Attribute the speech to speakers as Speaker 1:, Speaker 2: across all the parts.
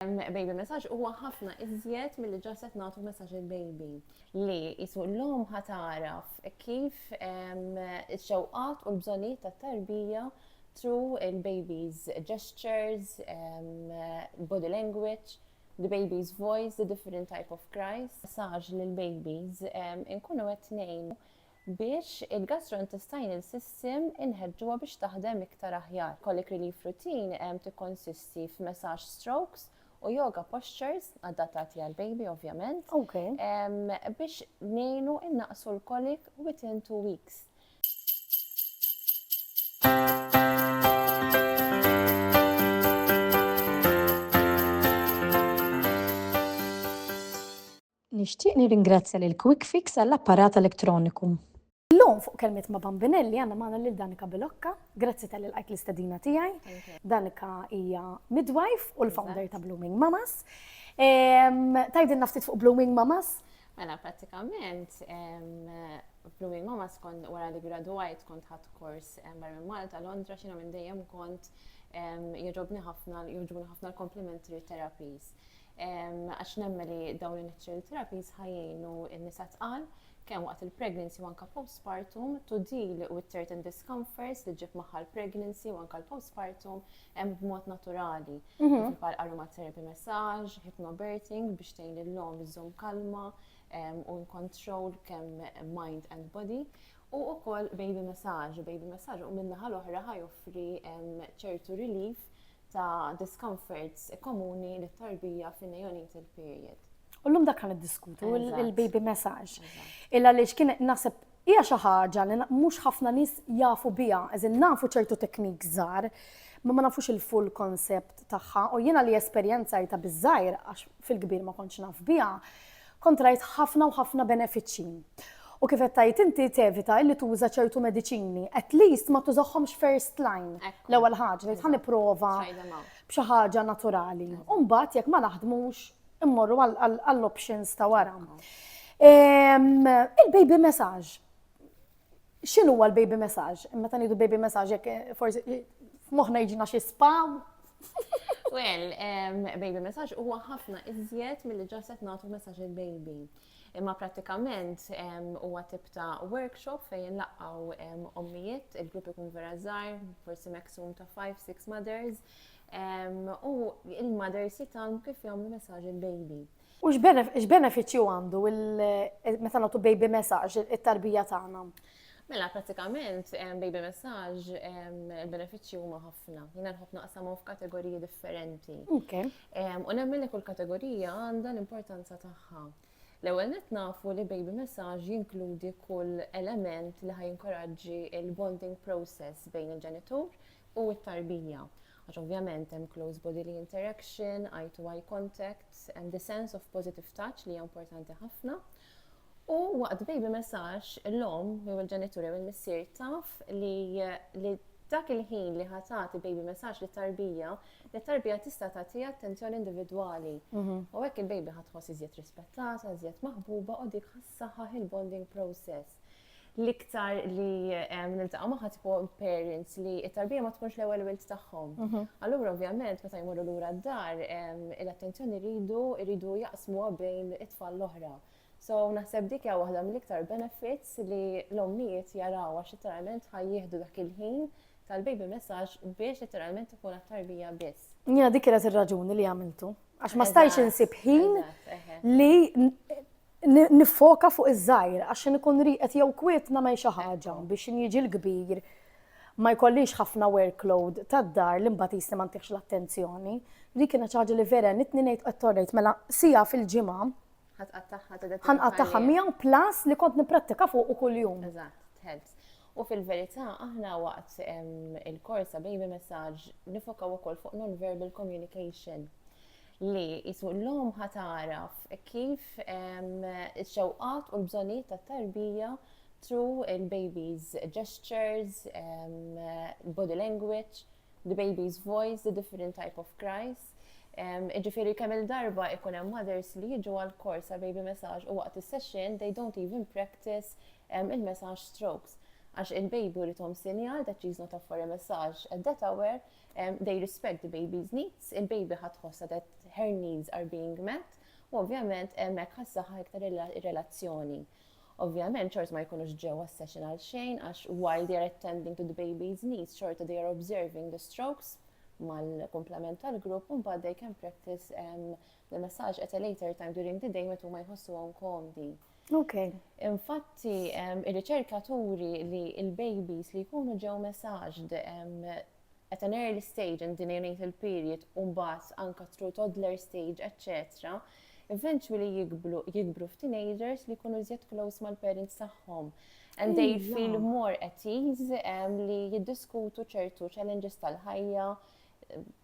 Speaker 1: Baby messaġġ huwa ħafna iżjed milli ġast qed nagħtu messaġġ il-baby. Li qisu l-omm ħa tagħraf kif ix-xewqat u l-bżonnijiet tat-tarbija through il-baby's gestures, body language, the baby's voice, the different type of cries. Messaġġ lill-babies inkunu qed ngħinu biex il-gastrointestinal system inħeġġuha biex taħdem iktar aħjar. Colic relief routine tikkonsisti f'massage strokes u yoga postures, adattati għall-baby ovvjament,
Speaker 2: biex
Speaker 1: ngħinu nnaqqsu l-colic within two weeks.
Speaker 2: Nixtieq nirringrazzja lil Quick Fix għall-apparat elettroniku. Illum fuq Kelmiet ma' Bambinelli għandna magħna lil Danika Bilocca. Grazzi talli lqajt l-istedina tiegħi. Danika hija midwife u l-founder ta' Blooming Mamas. Tgħidilna ftit fuq Blooming Mamas? Mela
Speaker 1: prattikament Blooming Mamas kont wara li gradwajt kont ħadd kors barra minn Malta, Londra, xina minn dejjem kont jogħġobni ħafna, jogħġbuni ħafna l-complimentary therapies. għax nemmen li dawn in-natural therapies ħa jgħinu n-nisa tqal kemm waqt il-pregnancy u anke postpartum, to deal with certain discomforts li ġib magħha l-pregnancy u anke l-postpartum hemm b'mod naturali. Mhm. Bħal aromatherapy massage, hypnobirthing biex tgħin lill-lom iżżomm kalma u in control kemm mind and body U ukoll baby massage, baby massage u minna ħal oħra ħajoffri ċertu relief ta' discomforts komuni li tarbija fin neonatal period. U l-lum dak għan
Speaker 2: diskutu il-baby message. Illa li xkien nasib hija xi ħaġa li mhux ħafna nies jafu biha, eżin nafu ċertu teknik żgħar, ma ma nafux il-full concept tagħha u jiena li esperjenzajta biżgħir għax fil-kbir ma kontx naf biha, Kontrajt ħafna u ħafna benefiċċji. U kif qed tgħid inti tevita illi tuża ċertu mediċini, at least ma tużahomx first line. L-ewwel ħaġa tgħid ħa nipprova b'xi ħaġa naturali. U mbagħad jekk ma naħdmux immorru għall-options ta' wara. Il-baby massage. x'inhu huwa l-baby message? Meta ngħidu baby message jekk eh, forsi eh, moħħna jiġina xi spam.
Speaker 1: Well, um, baby message huwa ħafna iżjed milli ġaset nagħtu messaġġ il-baby. Imma prattikament um, huwa tip ta' workshop fejn laqgħu um, ommijiet, il-grupp ikun vera żgħar, forsi maximum ta' 5-6 mothers, u il-mothers jitam kif jagħmlu messaġġ il-baby. U
Speaker 2: x'benefiċċju għandu meta nagħtu baby massage it-tarbija tagħna? Mela,
Speaker 1: pratikament, baby massage, il-benefiċċji huma ħafna. Jina nħobb naqsamhom f'kategoriji differenti. U nemmen li kull kategorija għandha l-importanza tagħha. L-ewwel net nafu li baby massage jinkludi kull element li ħaj jinkoraġġi il-bonding process bejn il-ġenitur u t-tarbija. Għax ovvjament hemm close bodily interaction, eye to eye contact, hemm the sense of positive touch li hija importanti ħafna. U waqt baby massage, l-omm jew il-ġenitur jew il-missier taf li li dak il-ħin li ħa tagħti baby massage li tarbija, li tarbija tista' tagħtiha attenzjoni individwali. Mhm. U hekk il-baby ħa tħoss iżjed rispettata, iżjed maħbuba u dik ħassaħħaħ il-bonding process. l-iktar li niltaqgħu magħha tipo parents li t-tarbija ma tkunx l-ewwel wild tagħhom. Mhm. Allura ovvjament meta jmorru lura d-dar, l-attenzjoni rridu rridu jaqsmuha bejn it-tfal l-oħra. So naħseb dik hija waħda mill-iktar benefits li l-ommijiet jaraw għax literalment ħajjieħdu dak il-ħin tal-baby messaġġ biex literalment ikun għat-tarbija biss. Jena dik kienet ir-raġuni
Speaker 2: li għamiltu. Għax ma stajx insib ħin li Niffoka fuq iż-żgħir għax x'in ikun rieqed jew kwiet nagħmel xi ħaġa biex x'in jiġi l-kbir ma jkollix ħafna workload tad-dar li mbagħad qisni ma ntihx l-attenzjoni. Dik kienet xi ħaġa li vera għenitni ngħid qed torrejt mela siegħa fil-ġimgħa Ħa tqattagħha tibda ħa nqattagħha miegħu plus li kont nipprattika fuqu kuljum. Eżatt, helps.
Speaker 1: U fil-verità aħna waqt il-korsa baby messaġġ nifokaw ukoll fuq non-verbal communication. li qisu l-omm ħa tagħraf kif ix-xewqat u l-bżonnijiet tat-tarbija through il-baby's gestures, body language, the baby's voice, the different type of cries. Jiġifieri kemm-il darba jkun hemm mothers li jiġu għall-kors għall-baby massage u waqt is-session they don't even practice il-massage strokes għax il-baby jrid ihom sinjal that she is not up for a massage at that hour, They respect the baby's needs, il-baby ħa tħossha that her needs are being met, u ovvjament hemmhekk ħassaħa iktar ir-relazzjoni. Ovvjament, ċort ma jkunux ġew għas-session għal xejn, għax while they are attending to the baby's needs, ċorta they are observing the strokes mal-komplement tal-grupp, un they can practice um, The massage at a later time during the day metu ma jħossuhom komdi. Ok.
Speaker 2: Infatti,
Speaker 1: ir-riċerka turi li il-babies li jkunu ġew massaged at an early stage in the neonatal period, unbat anka through toddler stage, etc., eventually jikbru, jikbru f'teenagers li jkunu zjed close mal-parents tagħhom. And they feel more at ease li jiddiskutu ċertu challenges tal-ħajja,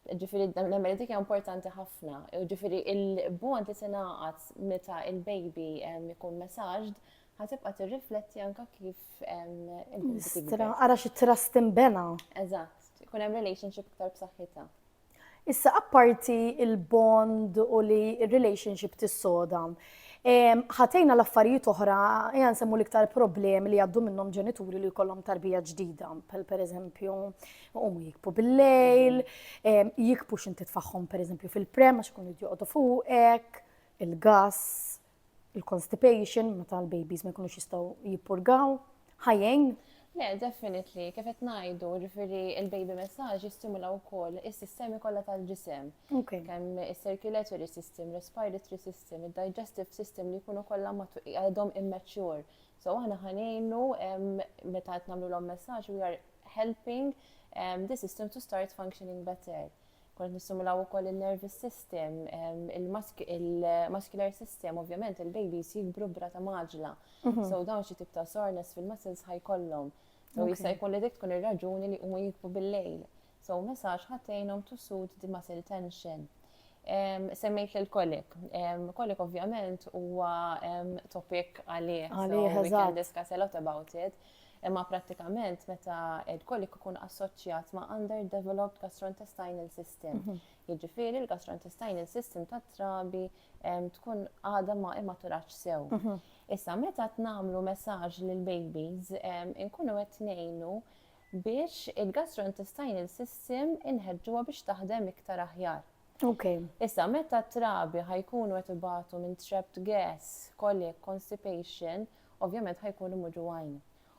Speaker 1: Ġifiri, nemmen dik importanti ħafna. Ġifiri, il-bond li tingħaqad meta il-baby jkun messaġġd ħatibqa' tirrifletti anka kif Istra,
Speaker 2: ara xi trust imbena. Eżatt, ikun
Speaker 1: hemm relationship iktar b'saħħitha. Issa
Speaker 2: apparti il-bond u li relationship tissoda, ħatejna l-affarijiet oħra, jgħan semmu l-iktar problemi li għaddu minnhom ġenituri li jkollhom tarbija ġdida, per eżempju, Umu jikbu bil-lejl, jikbu xinti tfaħħom per eżempju fil-prem, għax kun jidjoqdu fuqek, il-gas, il-constipation, meta l-babies ma jkunux jistaw jippurgaw, ħajjajn. Le,
Speaker 1: definitely, kif qed ngħidu, ġifieri il-baby messaġġ jistimula wkoll is-sistemi kollha tal-ġisem. Kemm is-circulatory system, respiratory system, id-digestive system li jkunu kollha għadhom immature So aħna ħa ngħinu meta qed nagħmlulhom messaġġ we are helping um, the system to start functioning better. Kont nistimulaw ukoll il-nervous system, um, il-muscular system, ovvjament il-babies jikbru brata maġla. Mm -hmm. So dawn xi tip ta' soreness fil-muscles ħajkollhom. So okay. jista' jkun li dik tkun ir-raġuni li huma jikbu bil-lejl. So me sax ħadd għinhom to soothe the muscle tension. Semmejt lil kolik. Kolik ovvjament huwa topic għalih. Għalih, We can discuss a lot about it. Imma prattikament meta il-kolik ikun assoċjat ma' underdeveloped gastrointestinal system. Mhm. Jiġifieri l-gastrointestinal system ta' trabi tkun għadha ma immaturax sew. Mhm. Issa meta tnamlu messaġġ lil babies inkunu qed ngħinu biex il-gastrointestinal system inħeġġuha biex taħdem iktar aħjar. Issa, meta t-trabi ħa jkunu qed ibatu minn trapped gas, colic, constipation, ovvjament ħa jkunu muġugħin.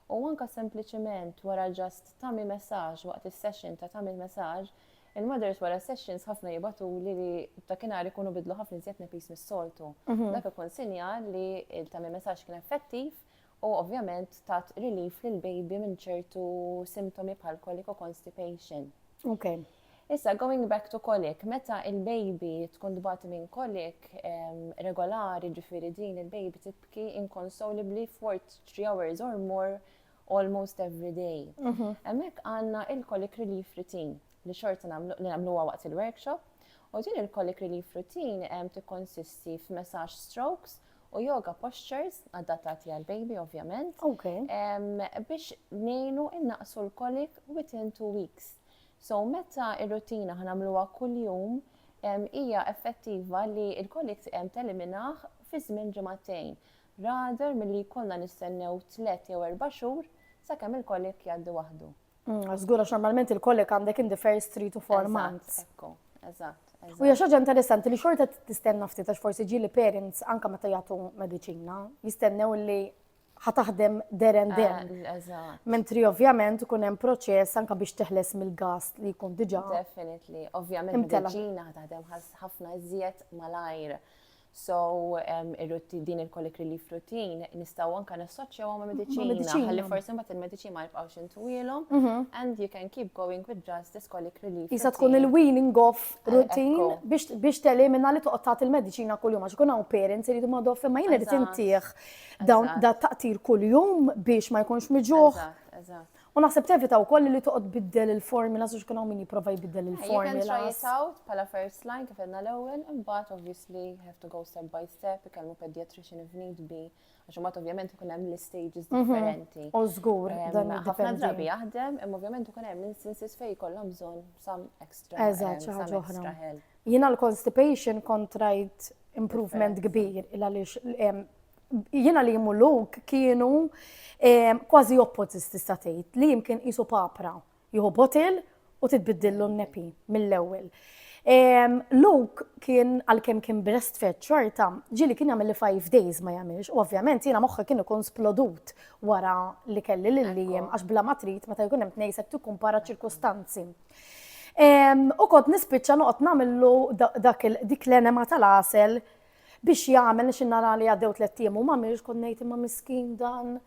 Speaker 1: U anke sempliċement wara just tummy massage waqt is-session ta' tummy massage, il-mothers wara s-sessions ħafna jibatuli li dakinhar ikunu bidlu ħafna iżjed nepis mis-soltu. Dak ikun sinjal li l-tummy massage kien effettiv u ovvjament tat relief lill-baby minn ċertu simtomi bħal colic u constipation. Okay. Issa, going back to colic, meta il-baby tkun tbati minn colic regolari ġifiri din il-baby tibki inconsolably for 3 hours or more almost every day. Mhm. Emmek għanna il-colic relief routine li xorta li namlu waqt il-workshop. U din il-colic relief routine tikkonsisti f'messaġġ strokes u yoga postures, adattati għal baby ovvjament, biex nejnu innaqsu l-kolik within two weeks. So meta ir-rutina ħanamluha kuljum, hija effettiva li l-kolik teliminah fi żmien ġimgħatejn, rather milli jkollna nistennew tliet jew erba' xhur sakemm il-kolik jgħaddi waħdu. Żgur għax normalment
Speaker 2: il-kollek għandek in the first three to four months. Ekku, eżatt.
Speaker 1: U hija xaġa
Speaker 2: interessanti li xorta tistenna ftit għax forsi ġieli parents anke meta jagħtu mediċina, jistennew li ħataħdem der and den. Eh, Mentri ovvjament ikun hemm proċess anke biex teħles mill-gas li jkun diġà. Definitely,
Speaker 1: ovvjament medicina ħataħdem ħafna iżjed malajr. So, ir-ruti, din il-colic relief routine, nistaw anka nassoċjawha ma' mediċina. Mediċina. Ħalli forsi mbagħad il-mediċina ma jibqgħux intuwielhom. Mhm. And you can keep going with just this colic relief. Isa tkun routine. il-weaning
Speaker 2: off Eh, routine ekku. biex, biex telimina li toqgħod tagħti il-mediċina kuljum għax ikun hawn parents iridu ma doff imma jien irid Eżatt. intih dawn Eżatt. da taqtir kuljum biex ma jkunx miġuħ. Eżatt, eżatt. U naħseb tevita wkoll li toqgħod biddel il-formula għax ikun hawn min jipprova jbiddel il-formula. Jekk try it out
Speaker 1: bħala first line kif għedna l-ewwel, imbagħad obviously have to go step by step, ikellmu pediatrician if need be, għax imbagħad ovvjament ikun hemm l-istages mhm. differenti. U żgur
Speaker 2: dan ħafna drabi jaħdem,
Speaker 1: imma ovvjament ikun hemm instances fejn jkollhom bżonn some extra. Eżatt, xi ħaġa oħra. Jiena
Speaker 2: l-constipation kontrajt improvement kbir il għaliex Jiena li jimmu luk kienu kważi oppożis tista' tgħid li jimkien qisu papra jieħu botil u titbiddillu n-nepi mill-ewwel. Luke kien għalkemm kien breastfed xorta, ġili kien jagħmel li five days ma jagħmilx, u ovvjament jiena moħħi kien ikun splodut wara li kelli lil lijem għax bla ma trid meta jkun hemm tnejsek tikkumpara ċirkustanzi. U kont nispiċċa noqgħod nagħmillu dak dik l-enema tal-għasel Biex jagħmel nix nara li għaddew tliet ijiem u m'għamilx kont ngħid imma miskin dan.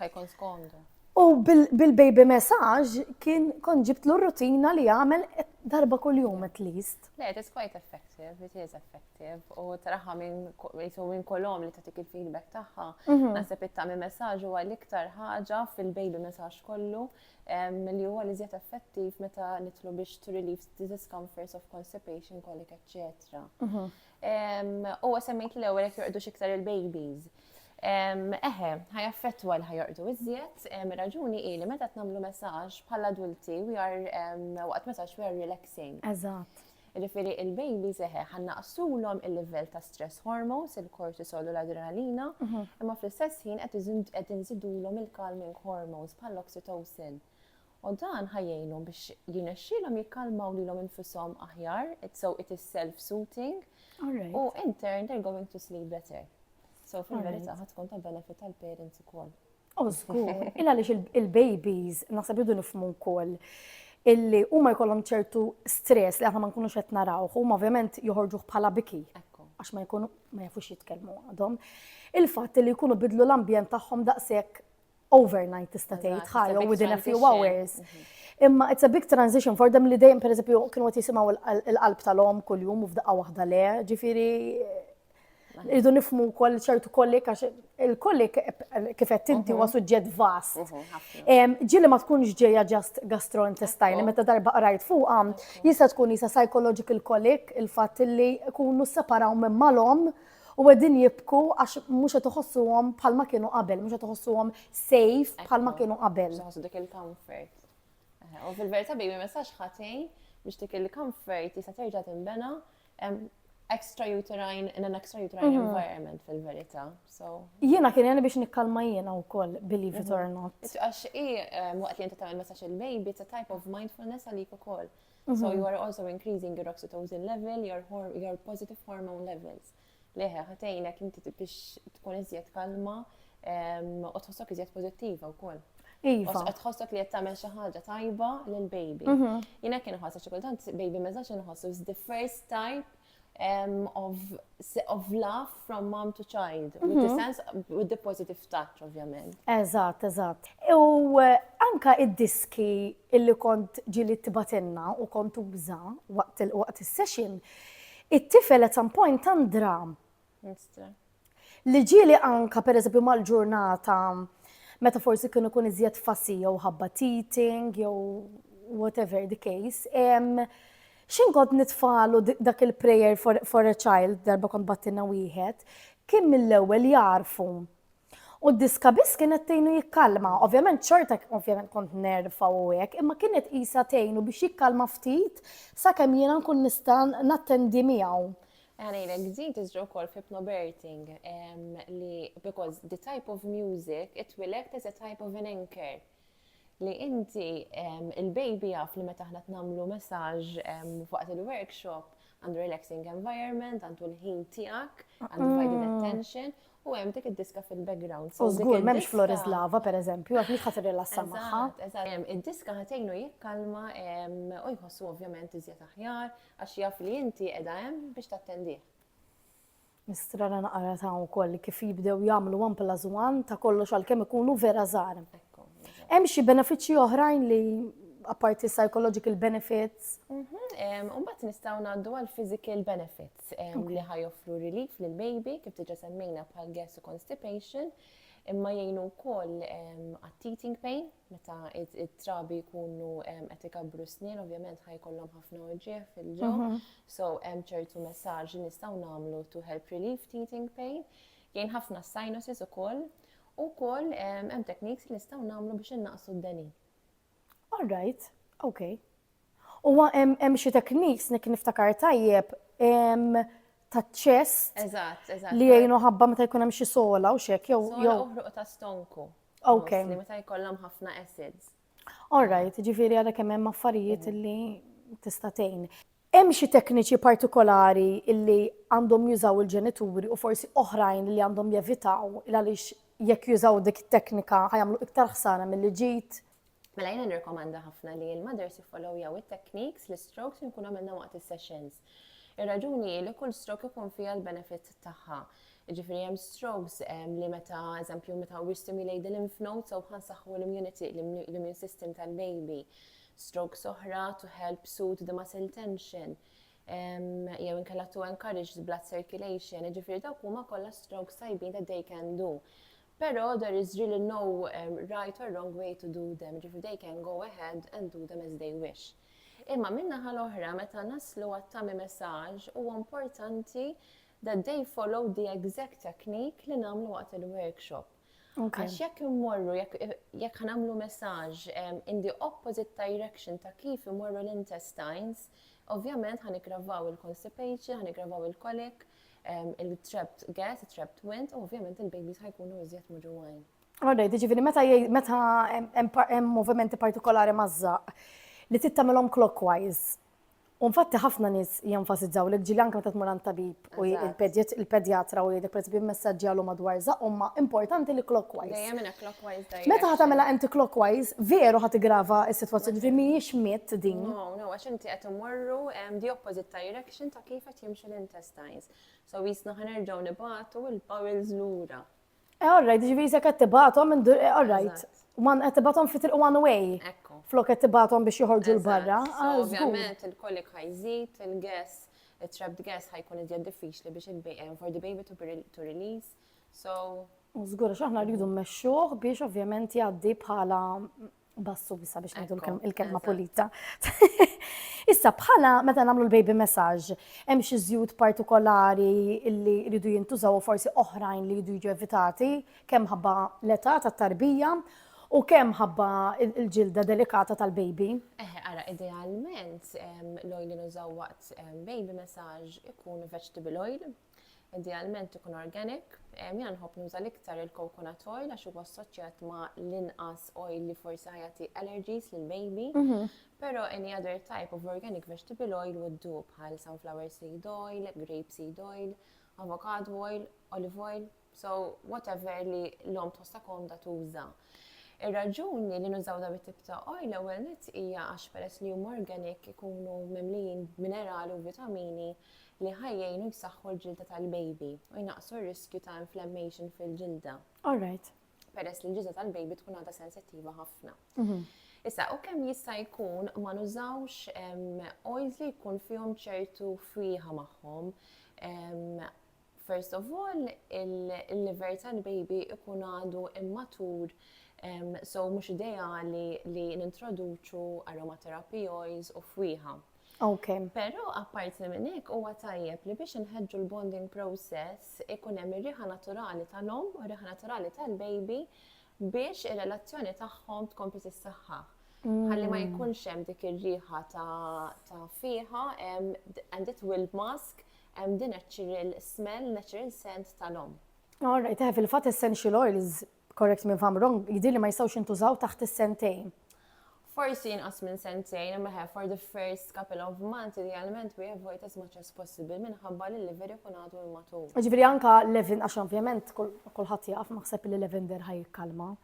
Speaker 2: Ħajkun
Speaker 1: skondu. U
Speaker 2: bil-baby message kien kon ġibtlu rutina li għamel darba kull jum at least. Le, it is quite effective,
Speaker 1: it is effective. U traħħa minn kolom li tatik il-feedback taħħa, mhm. nasib it-tami message u għal-iktar ħaġa fil-baby message kollu li huwa l-iżjed effettiv meta nitlu biex to relieve the discomforts of constipation, colic, etc. U semmejt li l-ewwel jekk jorqdux iktar il-babies. Eħe, ħaj affettwa li ħajorqdu iżjed, raġuni hi li meta tnamlu messaġġ bħal adulti we are waqt messaġġ we are relaxing. Eżatt.
Speaker 2: Jiġifieri il-baby
Speaker 1: seħħ, ħa nnaqqsulhom il-livell ta' stress hormones, il-kortisol u l-adrenalina, imma fl-istess ħin qed inżidulhom il-calming hormones bħall-oxytocin. U dan ħa jgħinhom biex jirnexxielhom jikkalmaw lilhom infushom aħjar, so it is self-soothing, u in turn they're going to sleep better. So fil-verità ħa tkun ta' benefit għall-parents ukoll. Oh, żgur.
Speaker 2: Il għaliex il-babies naħseb idu nifhmu wkoll illi huma jkollhom ċertu stress li aħna ma nkunux qed naraw, huma ovvjament joħorġuh bħala biki għax ma jkunu ma jafux jitkellmu għadhom. Il-fatt li jkunu bidlu l-ambjent tagħhom daqshekk overnight tista' tgħid ħajja within a few hours. Mhm. Imma it's a big transition for them li dejjem pereżempju kienu qed jisimgħu l-qalb tal-om kuljum u f'daqqa waħda le, ġifieri Irridu nifmu wkoll ċertu kollik għax il-kollik kif qed inti huwa mhm. suġġett vast. Mhm, ġieli ma tkunx ġejja ġast gastrointestinali meta darba qrajt fuqha jista' tkun jisa psychological kollik il-fatt li kunu separaw minn malhom u għedin jibku għax mux għet uħossuhom bħalma kienu qabel, mux għet uħossuhom safe bħalma kienu qabel. Uħossu dik il-comfort.
Speaker 1: U fil-verita bi ma sax ħatej biex dik il-comfort jisa terġa timbena Extrauterine in an extrauterine mhm. environment fil-verità. Jiena
Speaker 2: kien jena biex nikkalma jiena wkoll believe it or mhm. not. Għax i
Speaker 1: eh, waqt li inti tagħmel messaġġ il-baby it's a type of mindfulness għalik ukoll. So mhm. you are also increasing your oxytocin level, your, your positive hormone levels. Le, ħa tgħinek inti biex tkun iżjed kalma u tħossok iżjed pożittiva wkoll. Iva. Qed tħossok
Speaker 2: li qed tagħmel
Speaker 1: xi ħaġa tajba lil baby. Mhm. Jiena kien ħossa xi kultant baby ma żax inħossu is the first type um, of, of love from mom to child, mm -hmm. with the mhm. sense, with the positive touch, ovvjament. Eżatt, eżatt.
Speaker 2: U eh, anka id-diski illi kont ġili tibatinna u kont uża waqt il-session, It-tifel at some point tant dram. Li ġieli anka pereżempju mal-ġurnata meta forsi kienu kun iżjed fassi jew ħabba teething jew whatever the case. Xin kont nitfalu dak il-prayer for, for a child darba kont battina wieħed, kien mill-ewwel jarfu U d-diska biss kienet tgħinu jikkalma. Ovvjament xorta ovvjament kont nerfa u hekk, imma kienet qisha tgħinu biex jikkalma ftit sakemm jiena nkun nista' nattendi miegħu. Għanejlek, din
Speaker 1: tiżra wkoll f'hypnoberting li because the type of music it will act as a type of an anchor. li inti il-baby jaf li meta aħna tnamlu messaġġ fuq il-workshop għandu relaxing environment, għandu l-ħin tiegħek, għandu divided mm. attention, u hemm dik id-diska fil-background. U żgur m'hemmx Flores
Speaker 2: Lava pereżempju, għax mhix ħasir rilassa magħha. Id-diska
Speaker 1: ħatejnu jikkalma u jħossu ovvjament iżjed aħjar għax jaf li inti qiegħda hemm biex tattendih.
Speaker 2: Nistra li naqra ta' wkoll kif jibdew jagħmlu one plus one ta' kollox għalkemm ikunu vera żgħar. Hemm xi benefiċċji oħrajn li apparti psychological benefits. Mhm, Umbat
Speaker 1: nistaw naddu għal physical benefits li ħajoffru relief lil baby kif tiġa semmejna bħal gas u constipation imma jgħinu wkoll għat-teething pain Meta it-trabi jkunu qed ikabbru s-snien, ovvjament ħaj kollhom ħafna uġieħ fil-ġo. Mhm. So hemm ċertu messaġġ li nistgħu nagħmlu to help relieve teething pain. Jien ħafna sinuses ukoll. U wkoll hemm tekniks li nistgħu nagħmlu biex innaqsu d-deni. All
Speaker 2: right, okay. Huwa hemm hemm xi tekniks nek niftakar tajjeb em, ta' chest Eżatt, eżatt. li
Speaker 1: jgħinu ħabba
Speaker 2: meta jkun hemm xi sola u xek jew Sola jew u ħruq ta' stonku.
Speaker 1: Ok. Mostly, Meta
Speaker 2: jkollhom
Speaker 1: ħafna acids.
Speaker 2: all right, ġifieri għalhekk hemm hemm affarijiet li tista' tgħin. Hemm xi tekniċi partikolari li għandhom jużaw il-ġenituri u forsi oħrajn li għandhom jevitaw il għaliex jekk jużaw dik it-teknika ħa jagħmlu iktar ħsara milli ġid? Mela jiena
Speaker 1: nirrekomanda ħafna li l-mothers jiffollowjaw it-techniques, l-istrokes li nkunu għamilna waqt is-sessions. Ir-raġuni hi li kull stroke ikun fiha l-benefit tagħha. Ġifieri hemm strokes ehm, li meta eżempju meta we stimulate the lymph nodes so ħansaħħu l-immunity, l-immune system tal-baby. Strokes oħra to help soothe the muscle tension ehm, jew inkella to encourage the blood circulation, ġifieri dawk huma kollha strokes tajbin that they can do. Pero there is really no right or wrong way to do them, jiġifieri they can go ahead and do them as they wish. Imma min-naħa l-oħra meta naslu għat-tummy massage huwa importanti that they follow the exact technique li nagħmlu waqt il-workshop. Għax jekk immorru, jekk ħanamlu messaġġ in the opposite direction ta' kif imorru l-intestines, ovvjament ħanigravaw il-constipation, ħanigravaw il-kolik, il-trapped gas, il-trapped wind, u ovvjament il-babies ħajkunu iżjed muġuwajn. Alright, ġifiri,
Speaker 2: meta meta hemm movimenti partikolari mażżaq li tittamelhom clockwise. Unfatti ħafna nies jenfasizzaw li ġili anke meta tmur għand tabib u il-pedjatra u jgħidek pereżempju messaġġi għalu madwar żaq huma importanti li clockwise. Dejjem inha clockwise
Speaker 1: Meta ħadd tagħmilha anti
Speaker 2: clockwise, veru ħadd igrava s-sitwazzjoni ġifieri mhijiex mitt din. No, no, għax inti qed
Speaker 1: imorru the opposite direction. l-perception ta' kif qed jimxu l-intestines. So jisna ħanerġgħu nibatu il-bowels lura. Eh, all right, ġivi
Speaker 2: jisek qed tibatu minn dur, eh, all right. Man qed tibatu fit one way. Ekku. Flok qed tibatu biex joħorġu l-barra. Ah, ovvjament
Speaker 1: il-kolik ħajżid, il-gas, il-trapped gas ħajkun iżjed diffiċli biex il-baby, eh, for the baby to release. So. Zgur, xaħna
Speaker 2: rridu mmexxuh biex ovvjament jgħaddi bħala Bassu bisa biex ngħidu l-kelma pulita. Issa bħala meta nagħmlu l-baby massage, hemm xi żjut partikolari li jridu jintużaw u forsi oħrajn li jridu jiġu evitati, kemm ħabba l-età tat-tarbija U kemm ħabba il-ġilda delikata tal-baby? Eħe, ara,
Speaker 1: idealment l-oil li nużaw waqt baby massage ikun vegetable oil, Idealment ikun organic. Jiena nħobb nuża l-iktar il-coconut oil għax huwa assoċjat ma' l-inqas oil li forsi ħajati allergies lil baby. Mhm. Però any other type of organic vegetable oil would do bħal sunflower seed oil, grape seed oil, avocado oil, olive oil, So, whatever li l-om tħossha komda tuża. Ir-raġuni li nużaw da bit-tip ta' oil l-ewwel nett hija għax peress li huma organic ikunu mimlijin b'minerali u vitamini li ħajjejnu jsaħħu l-ġilda tal-baby u jnaqqsu r-riskju ta' inflammation fil-ġilda. All right.
Speaker 2: Peress li l-ġilda
Speaker 1: tal-baby tkun għadha sensittiva ħafna. Mhm. Issa, u kemm jista' jkun ma nużawx oils li jkun fihom ċertu friħa magħhom First of all, il-liver tal-baby ikun għadu immatur, so mhux ideali li nintroduċu aromatherapy oils u fwieħa. Ok. Pero
Speaker 2: apparti
Speaker 1: minn hekk huwa tajjeb li biex inħeġġu l-bonding process ikun hemm ir-riħa naturali tal-om u r-riħa naturali tal-baby biex ir-relazzjoni tagħhom tkompli tissaħħa. Ħalli ma mm. jkunx hemm dik ir-riħa ta' fiha and it will mask Hemm the natural smell, natural scent tal-omm. All right, eh, fil-fatt
Speaker 2: essential oils, correct me if I'm wrong, jidhirli ma jistgħux jintużaw taħt is-sentejn. Forsi
Speaker 1: inqas minn sentejn, imma ħe for the first couple of months idealment we avoid as much as possible minħabba li l-liver ikun għadu immatur. Ġifieri anka levin
Speaker 2: għax ovvjament kulħadd jaf naħseb li lavender ħaj kalma.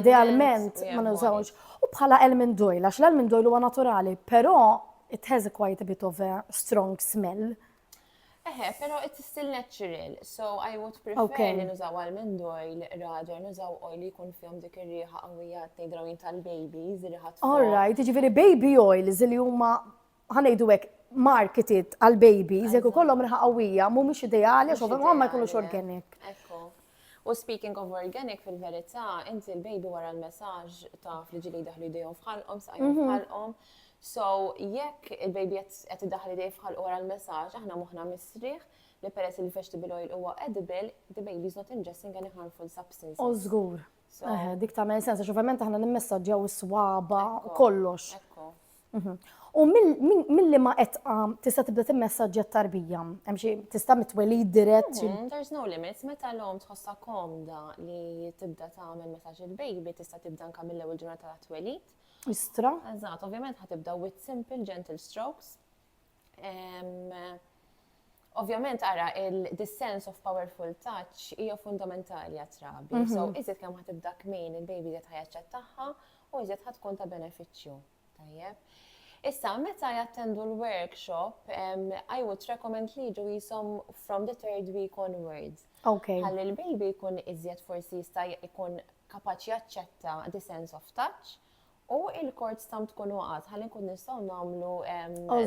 Speaker 2: Idealment ma nużawx. U bħala elmindoil, għax l-elmindoil huwa naturali, però it has a quite a bit of a strong smell. Eħe,
Speaker 1: pero it's still natural, so I would prefer li nużaw almond oil rather nużaw oil li jkun fihom dik ir-riħa qawwija tgħidrawin tal-babies, riħa All right, jiġifieri baby
Speaker 2: oils li huma ħa ngħidu hekk, marketed għal babies, jekk ikollhom riħa qawwija, mhumiex ideali għax ovvjament ma jkunux organic.
Speaker 1: U speaking of organic fil-verità, inti l-baby wara l-messaġġ ta' fl-ġili daħlu jdejhom fħalqhom, saqajhom mhm. fħalqhom. So, jekk il-baby qed idaħli dej fħalqu wara l-messaġġ, aħna moħħna misriħ, li peress li vegetable oil huwa edible, the baby is not ingesting any harmful substance. O żgur.
Speaker 2: Dik ta' men sensa, xovament aħna nimmessaġġjaw is-swaba kollox. U mill-liema etqa tista' tibda timmessaġġja t-tarbija? Hemm xi tista' mitwelid dirett? Mm-hmm. There's no limits,
Speaker 1: meta l-om tħossha komda li tibda tagħmel messaġġ il-baby tista' tibda anke mill-ewwel ġurnata ta' twelid. Istra. Eżatt, ovvjament ħatibda with
Speaker 2: simple
Speaker 1: gentle strokes Ovvjament ara il-this sense of powerful touch hija fundamentali għat-trabi. Mhm. So iżjed kemm ħad tibda kmin il-baby iżjed ħajaċċett tagħha u iżjed ħad tkun ta' benefiċċju. Tajjeb. Issa, meta jattendu l-workshop, I would recommend li ġu jisom from the third week onwards. Ok. Għalli
Speaker 2: l-baby jkun
Speaker 1: iżjed forsi jista' jkun kapaċi jaċċetta the sense of touch U il-kord stamp tkun waqgħet ħalli nkun nistgħu nagħmlu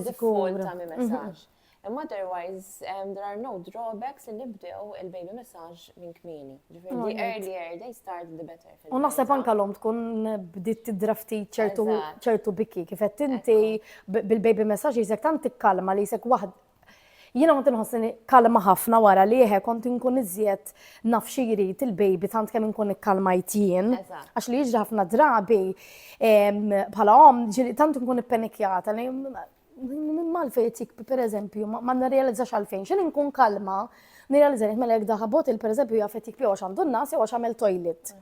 Speaker 1: default ta' mi messaġġ. Imma otherwise, um, there are no drawbacks li nibdew il-baby massage minn kmini. Ġifir, the earlier they start, the better. U naħseb anka l-om
Speaker 2: tkun bdiet tidrafti ċertu bikki, kifet inti bil-baby massage jisek tant tikkalma li jisek waħd Jiena kont inħossni kalma ħafna wara li eħe kont inkun iżjed naf xi jrid il-baby tant kemm inkun ikkalmajt jien. Għax li jiġri ħafna drabi bħala om ġili tant inkun ippenikjata li mal-fej tik per eżempju ma nirrealizzax għalfejn xejn inkun kalma nirrealizza li mela jekk daħabot il per eżempju jaf tik jew għax għandu n-nas jew għax għamel toilet.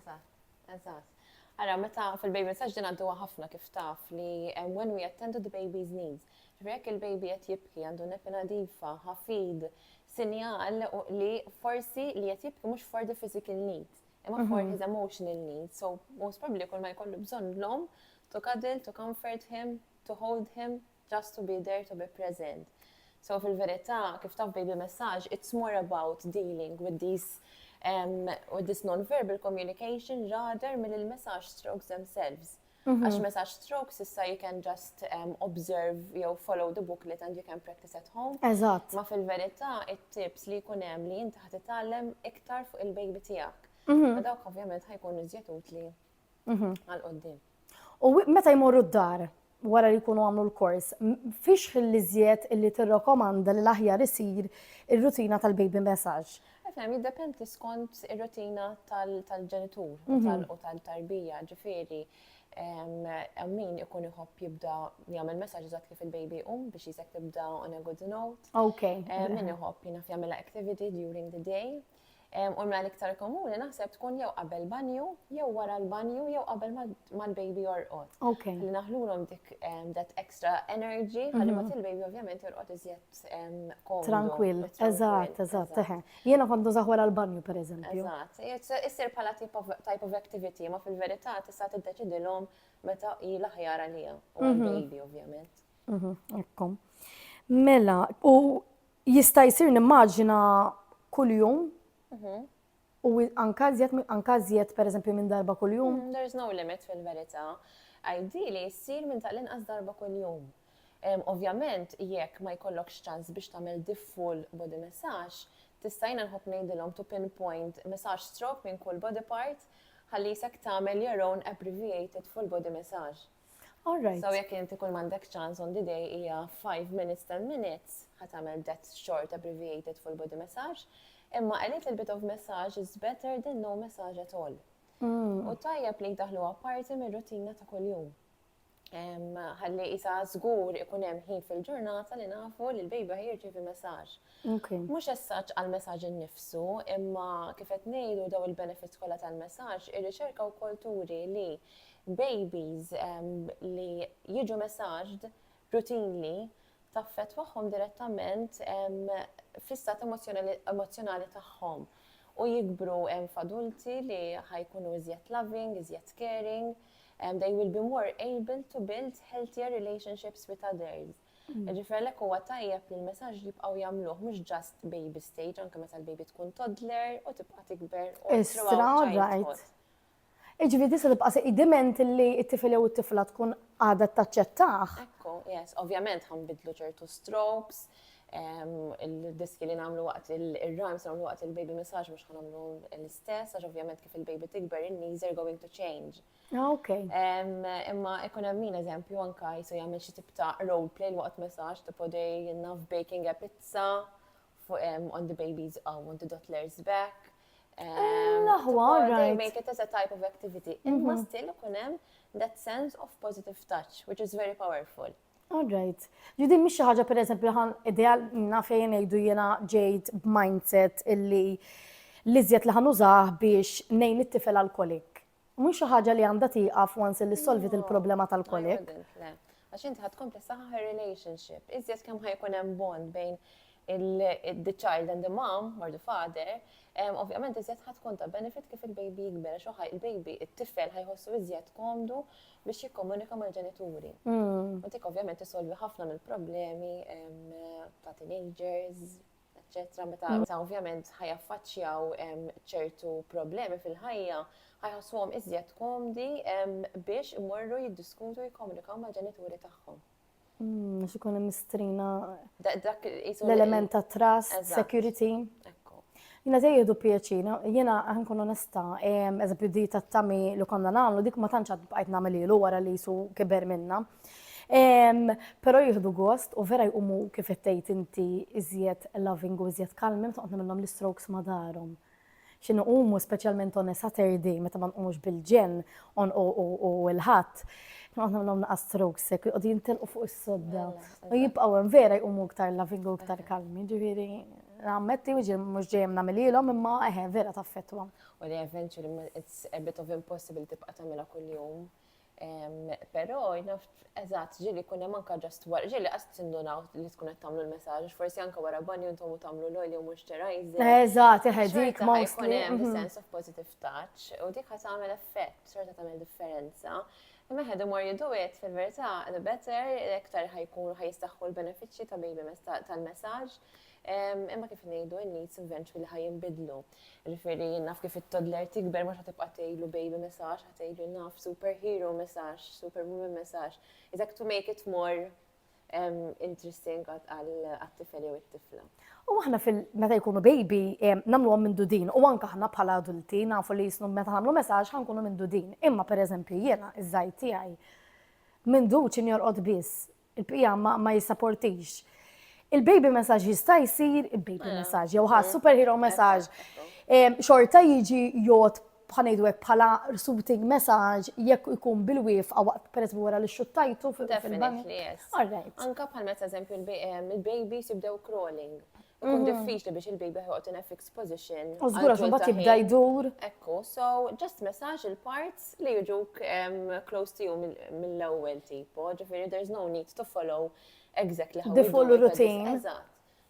Speaker 2: Eżatt.
Speaker 1: Ara, meta fil-baby massage din għadduha ħafna kif taf li hemm when we attend to the baby's needs. Ġifieri jekk il-baby qed jibki għandu nepi nadifa, ħafid, sinjal li forsi li qed jibki mhux for the physical needs, imma for mhm. his emotional needs. So most probably kull ma jkollu bżonn l-om to cuddle, to comfort him, to hold him, Just to be there, to be present. So fil-verità, kif taf baby messaġġ, it's more about dealing with these um, with this non-verbal communication rather mill il-message strokes themselves. Mhm. Għax message strokes issa you can just um, observe jew follow the booklet and you can practice at home. Eżatt. Ma fil-verità it-tips li jkun hemm li inti ħad titgħallem iktar fuq il-baby tiegħek. Mhm. Dawk ovvjament ħajkun iżjed utli mhm. għal qoddim. U
Speaker 2: meta jmorru d-dar wara li jkunu għamlu l-kors, fiex l-iżjed illi tirrakomanda li l-aħjar isir ir-rutina tal-baby massage? Efem, jiddependi
Speaker 1: skont ir-rutina tal-ġenitur u mhm. tal-tarbija, ġifieri min ikun iħobb jibda jagħmel messaġġ eżatt kif il-baby um biex jisek tibda on a good note. Ok. Min
Speaker 2: iħobb jina
Speaker 1: jagħmel activity during the day. U l-mela l-iktar komuni naħseb tkun jew qabel banju, jew wara l-banju, jew qabel mal-baby jorqod. Ok. Li naħlulhom
Speaker 2: dik
Speaker 1: that extra energy, ħalli ma il-baby ovvjament jorqod iżjed komdu. Tranquil,
Speaker 2: eżatt, eżatt, eħe. Jiena kont nużaħ wara l-banju per eżempju. Eżatt, issir
Speaker 1: bħala type of activity, ma fil-verità tista' tiddeċidilhom meta hi l-aħjar għalija u l-baby ovvjament. Ekkom.
Speaker 2: Mela, u Jista' jsir nimmaġina kuljum u anka żjed anka żjed pereżempju minn darba kuljum. Mm, there's no limit
Speaker 1: fil-verità. Ideally ssir minn ta' l-inqas darba kuljum. Ovvjament jekk ma jkollokx ċans biex tagħmel di full body massage, tista' jiena nħobb ngħidilhom to pinpoint massage stroke minn kull body part ħalli jisek tagħmel your own abbreviated full body massage. All right. So
Speaker 2: jekk inti kull mandek
Speaker 1: ċans on the day hija 5 minutes 10 minutes ħatamel that short abbreviated full body massage, imma a little bit of massage is better than no massage at all. Mm. U tajjeb li daħlu apparti mir rutina ta' kuljum. Ħalli isa żgur ikun hemm ħin fil-ġurnata li nafu li l-bejba ħirġi fi massage. Mhux as-such għall-messaġġ innifsu, imma, kif qed ngħidu, dawn il-benefits kollha tal-messaġġ, ir-riċerka wkoll turi li babies li jiġu messaged routinely taffettwahom direttament fl-istat emozzjonali tagħhom u jikbru f'adulti li ħa jkunu iżjed loving, iżjed caring, they will be more able to build healthier relationships with others. Ġifier għalhekk huwa tajjeb li l-messaġġ jibqgħu jagħmluh mhux ġast baby stage anke meta l-baby tkun toddler u tibqa' tikber u throughout
Speaker 2: Iġifieri tista' tibqa' se idiment li t-tifel jew it-tifla tkun għadha taċċettah. Ekku, yes,
Speaker 1: ovvjament ħanbidlu ċertu strokes, il-diski li namlu waqt il-rhymes namlu waqt il-baby massage mux ħanamlu l-istess, għax ovvjament kif il-baby tikber, il-knees are going to change. Ah, ok.
Speaker 2: Imma
Speaker 1: ikun hemm min eżempju anka jisu jagħmel xi tip ta' role play l waqt messaġġ tipo dej naf baking a pizza on the babies oh, on the toddlers back. Naħwa, ah, right. Make it as a type of activity. Mhm. Imma still ikun hemm that sense of positive touch, which is very powerful. All right.
Speaker 2: Judin, miex ħaġa per eżempju ħan ideal minna fejn ejdu jena ġejt b'mindset illi li zjed li ħanużaħ biex nejn it-tifel alkolik. Mhux xi ħaġa li għandha tieqaf once illi solvit il-problema tal-kolik. Għax
Speaker 1: inti ħad tkompli saħħa relationship, iżjed kemm ħajkun hemm bond bejn the child and the mom, or the father, ovvjament iżjed ħad tkun ta' benefit kif il-baby jikber, għax uħaj il-baby, it-tifel ħajħossu iżjed komdu biex jikkomunika mal-ġenituri. Hmm. U dik ovvjament isolvi ħafna mill-problemi ta' teenagers, eċċetera meta meta ovvjament ħajaffaċċjaw ċertu problemi fil-ħajja, ħajħossuhom iżjed komdi biex imorru jiddiskutu jikkomunikaw mal-ġenituri tagħhom. Mm, għax
Speaker 2: ikun hemm mistrina l-element ta' trust, security. Jina dej jihdu pieċina, jina għankun onesta, eżempju di ta' tami li konna namlu, dik ma tanċad bqajt namelilu wara li su kiber minna. Pero jihdu gost u vera jqumu kif tgħid inti iżjed loving u iżjed kalmi meta qodna minnhom l-strokes ma darhom. X'in iqumu speċjalment on a Saturday meta ma nqumux bil-ġenn on u l-Ħadd. Qodna minnhom naqa' strokes hekk jqogħdu jintelqu fuq is-sodda. U jibqgħu hemm vera jqumu iktar loving u iktar kalmi. Ġifieri nammetti mhux dejjem nagħmilhielhom imma eħe vera taffettwahom. U li eventually
Speaker 1: it's a bit of impossible tibqa' tagħmilha kuljum. Però naf eżatt ġieli jkun hemm anke ġast wara, ġieli qas tindunaw li tkun qed tagħmlu l-messaġġ, forsi anke wara banju intom u tagħmlu l-oil jew moisturizer. Eżatt, eħe dik
Speaker 2: ma jkun hemm mhm. sense of positive
Speaker 1: touch u dik ħa tagħmel effett, xorta tagħmel differenza. Imma ħed imur jidu it fil-verità the better iktar ħajkun ħajjistaħħu l-benefiċċji ta' baby tal-messaġġ imma kif ngħidu n-needs eventually ħajinbidlu. Ġifieri jien naf kif it-toddler tikber mhux ħa tibqa' tgħidlu baby messaġġ, ħa tgħidlu naf superhero messaġġ, superwoman messaġġ. It's like to make it more interesting għat-tifel jew it-tifla. U aħna
Speaker 2: fil-meta jkunu baby nagħmluhom minn dudin u anke aħna bħala adulti nafu li jisnu meta nagħmlu messaġġ ħankunu minn dudin. Imma pereżempju jiena iż-żajt tiegħi minn duċin jorqod biss Il-bqija ma, ma jissaportix. Il-baby message jista' jsir il-baby eh. message, jew ħa superhero message. Xorta jiġi jgħod bħanajdu għek bħala suiting message jekk ikun bil-wif għawat per eżempju wara li xuttajtu fil-bank. Anka
Speaker 1: bħal meta eżempju il-babies jibdew crawling. Ikun diffiċli biex il-baby ħoqgħod in a fixed position. U żgur għax imbagħad jibda
Speaker 2: jdur. Ekku, so
Speaker 1: just massage il-parts li jiġuk close to you mill-ewwel tipo, ġifieri there's no need to follow exactly how the full routine.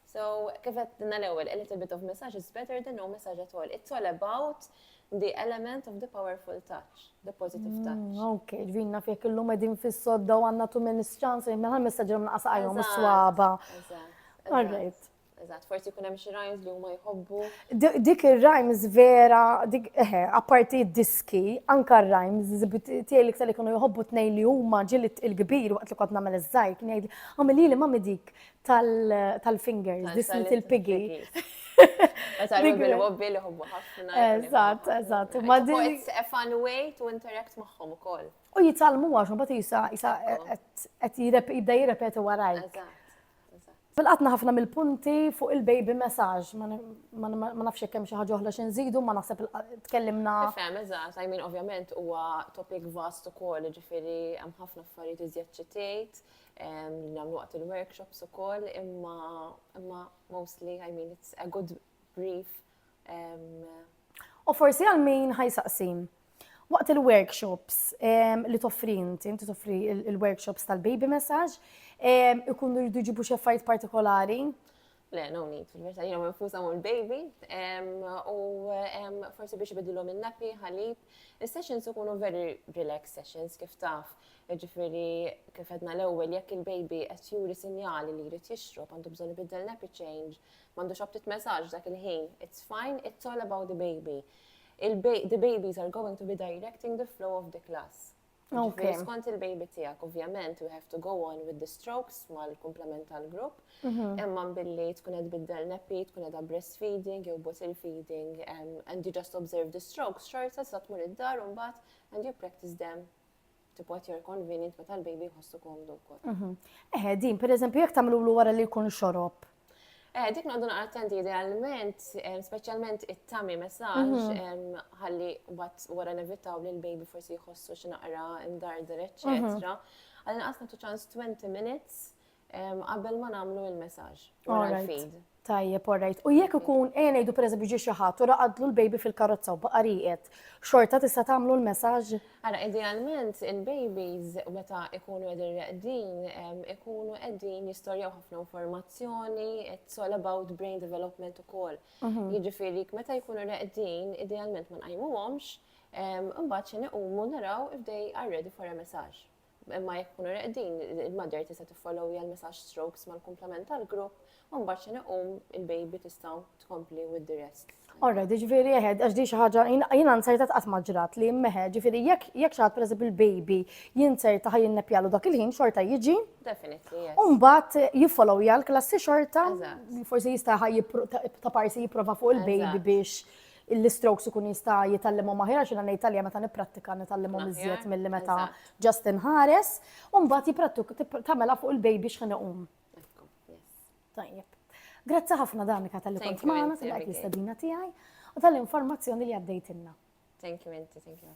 Speaker 2: So,
Speaker 1: kif qed l-ewwel, a little bit of massage is better than no massage at all. It's all about The element of the powerful touch, the positive mm, touch. Mm, ok, ġvin naf jek
Speaker 2: illum edin fis-sodda u għanna too many chances, minn għal messagġi għamna qasa għajom s-swaba. Alright. Eżatt, forsi kun hemm
Speaker 1: xi rhymes li huma jħobbu. Dik ir-rhymes
Speaker 2: vera, dik eħe, eh, apparti diski, anka r-rhymes tiegħi li li kienu jħobbu tnej li huma ġilit il-kbir waqt li kont nagħmel iż-żgħir kien jgħid għamilili ma dik tal-fingers, this little piggy.
Speaker 1: Meta l wobbi li hobbu ħafna. Eżatt, eżatt.
Speaker 2: Ma din. It's a
Speaker 1: fun way to interact magħhom ukoll. U jitalmu għax
Speaker 2: ma bati jisa jisa qed jibda jirrepetu warajk. Fil-qatna ħafna mill-punti fuq il-baby message, ma nafx kemm xi ħaġa oħra xi nżidu, ma naħseb tkellimna. Fem, eżatt, I
Speaker 1: mean ovvjament huwa topic vast ukoll, ġifieri hemm ħafna affarijiet iżjed ċitejt. li nagħmlu waqt il-workshops ukoll, imma imma mostly I mean it's a good brief.
Speaker 2: U forsi għal min ħajsaqsim. Waqt il-workshops li toffri inti, inti toffri il-workshops tal-baby message, ikunu jridu ġibu xi affarijiet partikolari? Le, no
Speaker 1: need, fil-verta, jina minfusa mu l-baby, u forsi biex bidilom il-napi, ħalib. Il-sessions ikunu very relaxed sessions, kif taf, ġifiri, kif għedna l-ewel, jekk il-baby għet juri sinjali li jrid jixrob, għandu bżon ibiddel napi change, mandu xabtit messaġ dak il-ħin, it's fine, it's all about the baby. The babies are going to be directing the flow of the class. Ġifieri skont
Speaker 2: il-baby
Speaker 1: tiegħek, ovvjament, we have to go on with the strokes mal-komplement tal-grupp. Mhm. Imma billi tkun qed biddel neppi, tkun qed breastfeeding jew bottle feeding, um, and you just observe the strokes, xorta sa tmur id-dar u mbagħad and you practice them tipo at your convenient meta l-baby jħossu komdu wkoll. Mhm. Eħe, din, per
Speaker 2: eżempju, jekk tagħmlu wara li jkun xorob, Eh, dik noqdu
Speaker 1: naqra attenti idealment, eh, specialment it-tami messaġ, mhm. eh, ħalli bat wara nevitaw li l-baby forsi jħossu x'naqra imdarder, eccetera. Għalli mhm. naqas nagħtu ċans 20 minutes qabel ma nagħmlu il-messaġ wara l-feed. Tajjeb,
Speaker 2: orrejt. U jekk ikun ejja ngħidu pereżempju ġi xi ħadd u raqadlu l-baby fil-karozza u baqa' rieqed, xorta tista' tagħmlu l-messaġġ? Ara, idealment
Speaker 1: il-babies meta jkunu qegħdin reqdin ikunu qegħdin jistorjaw ħafna informazzjoni, it's all about brain development ukoll. Mhm. Jiġifieri meta jkunu reqdin, idealment ma nqajmuhomx, imbagħad xi nequmu naraw if they are ready for a massage. Imma jekk ikunu reqdin, il-mother tista' tiffollowja l-massage strokes mal-kumplament tal-grupp u mbagħad xi iqum il-baby tistgħu tkompli with the rest. Alright, ġifieri
Speaker 2: eħed, għax di xi ħaġa jiena nsertat qatt ma ġrat li meħe, ġifieri jekk jekk xi ħadd pereżempju l-baby jinserta ħa jinnepjalu dak il-ħin xorta jiġi. Definitely, yes. U
Speaker 1: mbagħad jiffollowja
Speaker 2: l-klassi xorta, forsi jista' ħa ta' parsi jipprova fuq il-baby biex l-istrokes ikun jista' jitgħallimhom aħjar għax jiena ngħid għalija meta nipprattika nitgħallimhom iżjed milli meta ġast inħares. U mbagħad jipprattuk tagħmilha fuq il-baby x'ħin iqum. Tajjeb. Grazzi ħafna Danika tal-li kont magħna, tal-li jistadina tiegħi u tal-informazzjoni li
Speaker 1: għaddejtilna. Thank
Speaker 2: you, Minti,
Speaker 1: thank
Speaker 2: you.